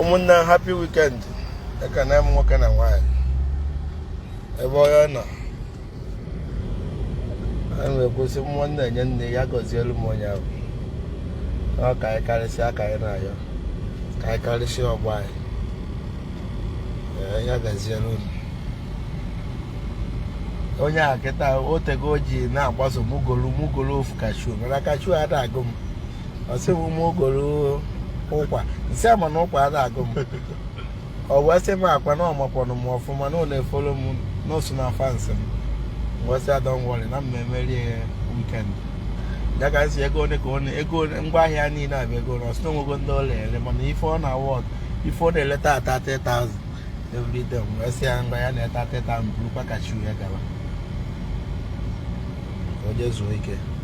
ụmụnne happy weekend ekene m nwoke na nwaanyị ebe onye nọ a na-ekwu sị mmụọ nna enye nne ya gọzielu m onye ahụ ọ ka anyị karịsịa ka anyị na-ayọ ka anyị karịsịa ọgbọ anyị ya gazielu unu onye a kịta otego o ji na-agbaso mụ golu mụ golu ofu kashu mana kashu ada agụ m ọ sị m mụ golu ụkwa m sị ya mana ụkwa ada agụ m ọ wee sị m akwa na ọ makwanụ m ọfụma na ọ na-efollow m n'osu na fancy m wee sị ya don't worry na mma emere ya weekend ya ka m sị ego ole ka ole ego ole ngwa ahịa niile a bụ ego ole ọ sị na o nwego ndị ọ na-ele mana ife ọ na-aworth ife ọ na-eleta ata 30,000 every day m wee sị ya ngwa ya nata 30,000 burukwa kashu ya gara ka o je zuo ike